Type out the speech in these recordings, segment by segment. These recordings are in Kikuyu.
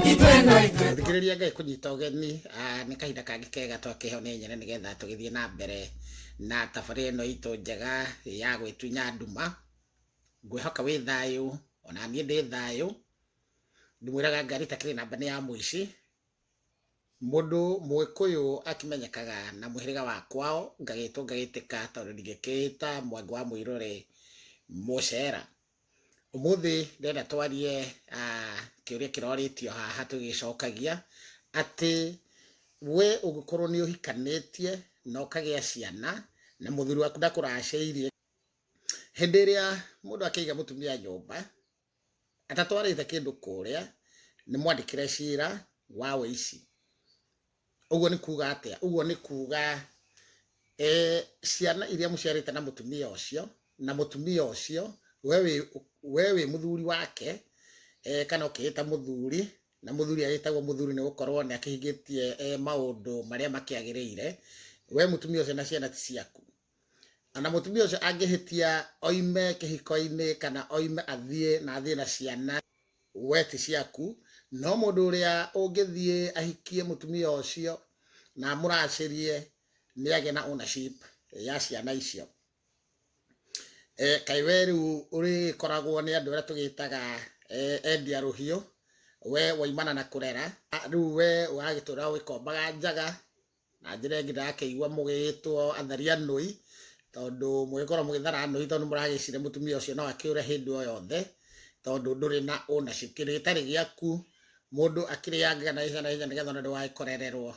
thikĩrĩria ngai kũnyita ũgeni ah, nĩ kahinda kangĩ kega twakeho nĩ nyene nĩgetha tũgĩthiĩ na mbere na thabarĩ ĩno itũ njega ya gwĩtunya nduma ngwĩhoka wĩ thayũ ona niĩ ndĩ thayũ ndimwĩraga ngari takĩrĩ namba nĩ ya mũici mũndũ mũgĩkũyũ akimenyekaga na mũhĩrĩga wa kwao ngagĩtwo ngagĩtĩka tondũ ndingĩkĩĩta mwangi wa mũirũrĩ mũcera Ũmũthĩ ndĩrenda twarie kĩũria kĩrorĩtio haha tũgĩcokagia, atĩ we ũngĩkorwo nĩ ũhikanĩtie na ũkagĩa ciana na mũthuri waku ndakũracĩirie, hĩndĩ ĩrĩa mũndũ akĩiga mũtumia nyũmba atatwarĩte kĩndũ kũrĩa, nĩ mwandĩkĩre cira wa ũici. ũguo nĩ kuuga atĩa ũguo nĩ kuuga eh, ciana iria mũciarĩte na mũtumia ũcio na mũtumia ũcio we wĩ- we wĩ mũthuri wake eh, kana ũkĩĩta mũthuri na mũthuri agĩtagwo mũthuri nĩ gũkorwo nĩ akĩhingĩtie eh, maũndũ marĩa makĩagĩrĩire we mũtumia ũcio na ciana ti ciaku na mũtumia ũcio angĩhĩtia oime kĩhiko-inĩ kana oime athiĩ na athiĩ na ciana we ti ciaku no mũndũ ũrĩa ũngĩthiĩ ahikie mũtumia ũcio na amũracĩrie nĩ agĩa na ownership ya ciana icio e, kaĩ we rĩu ũrĩkoragwo nĩ andũ arĩa tũgĩtaga e, endia rũhiũ we waimana na kũrera rĩu we ũragĩtũra ũgĩkombaga njaga na njĩra ĩngĩ ndakĩigua mũgĩgĩtwo atharia nũi tondũ mũgĩkorwo mũgĩthara nũi tondũ mũragĩcire mũtumia ũcio no akĩũre hĩndĩ o yothe tondũ ndũrĩ na ownership kĩndũ gĩtarĩ gĩaku mũndũ akĩrĩangaga na ihenya na ihenya nĩgetha ona ndũgagĩkorererwo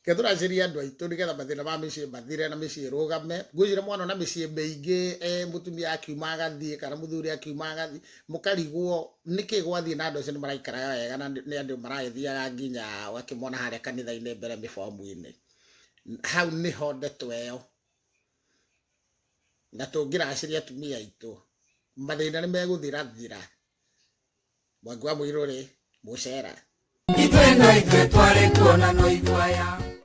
ke tũracĩria andũ aitũ nĩgetha mathĩna ma mĩciĩ mathire na mĩciĩ ĩrũgame ngwĩciria mwana ona mĩciĩ mĩingĩ eh, mũtumia akiuma agathiĩ kana mũthuri akiuma agathiĩ mũkarigwo nĩkĩ gwathiĩ na andũ acio nĩ maraikaraga wega na nĩ andũ maragĩthiaga nginya wakĩmona harĩa kanitha-inĩ mbere mĩbomu-inĩ hau nĩho ndeto ĩyo na tũngĩracĩria atumia aitũ mathĩna nĩ megũthirathira mwangi wa mũirũ rĩ mũcera ithuĩ no ithuĩ twarĩ kuona no ithuaya